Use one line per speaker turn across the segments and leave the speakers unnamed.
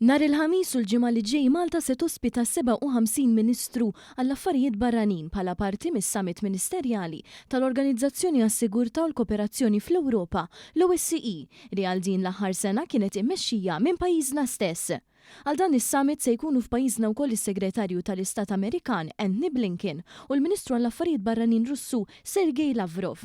Nhar il-Ħamis u l-Ġimgħa li ġej Malta se tospita s-57 Ministru għall-Affarijiet Barranin bħala parti mis-Summit Ministerjali tal-Organizzazzjoni għas-Sigurtà u l-Koperazzjoni fl-Ewropa, l-OSCE, li għal din l-aħħar sena kienet immexxija minn pajjiżna stess. Għal dan is-Summit se jkunu f'pajjiżna wkoll is-Segretarju tal-Istat Amerikan Antony Blinken u l-Ministru għall-Affarijiet Barranin Russu Sergei Lavrov.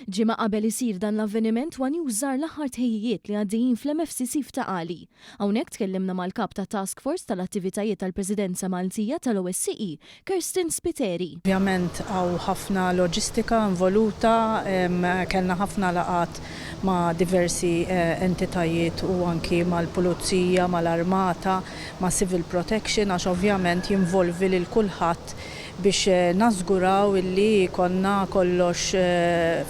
Ġimgħa qabel isir dan l-avveniment One News żar l-aħħar tħejjijiet li għaddejjin fl-MFCC f'Ta' Qali. Hawnhekk tkellimna mal-Kap tat-Task Force tal-Attivitajiet tal-Presidenza Maltija tal-OSCE, Kirsten Spiteri. Ovvjament hawn
ħafna loġistika involuta, kellna ħafna laqgħat ma' diversi entitajiet u anki mal-Pulizija, mal-Armata, ma' Civil Protection għax ovvjament jinvolvi lil kulħadd biex nażguraw illi jkollna kollox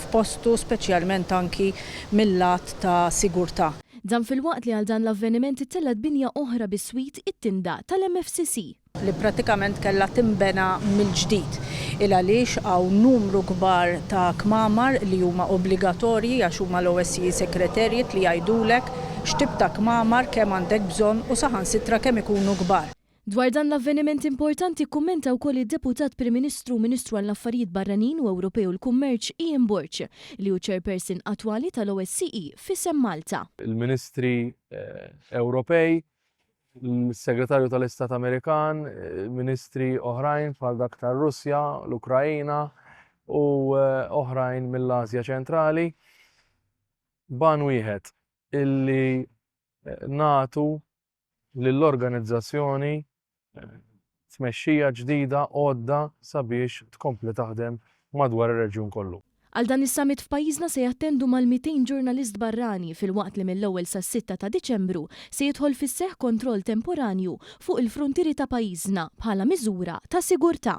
f'postu speċjalment anki mil-lat ta' sigurtà. Dan filwaqt li
għal dan l-avveniment ittellgħet binja oħra biswit, it-tinda, tal-MFCC. li prattikament
kellha tinbena mill-ġdid il għaliex hawn numru kbar ta' kmamar li huma obbligatorji għax huma l-OSCE Secretariat li jgħidulek x'tip ta' kmamar, kemm għandek bżonn u saħansitra kemm ikunu kbar. Dwar dan l-avveniment
importanti kkummenta wkoll id-Deputat Prim Ministru u Ministru għall-Affarijiet Barranin u Ewropej u l-Kummerċ Ian Borg, li hu Chairperson attwali tal-OSCE f'isem Malta. Il-Ministri
Ewropej, l-Segretarju tal-Istat Amerikan, Ministri oħrajn bħal dak tar-Russja, l-Ukraina u oħrajn mill-Ażja Ċentrali, b'għan wieħed, illi nagħtu lill-organizzazzjoni tmexxija ġdida għodda sabiex tkompli taħdem madwar ir-reġjun kollu. Għal dan is-summit
f'pajjiżna se jattendu mal-200 ġurnalist barrani filwaqt li mill-ewwel sas-sitta ta' Diċembru se jidħol fis-seħħ kontroll temporanju fuq il-fruntieri ta' pajjiżna bħala miżura ta' sigurtà.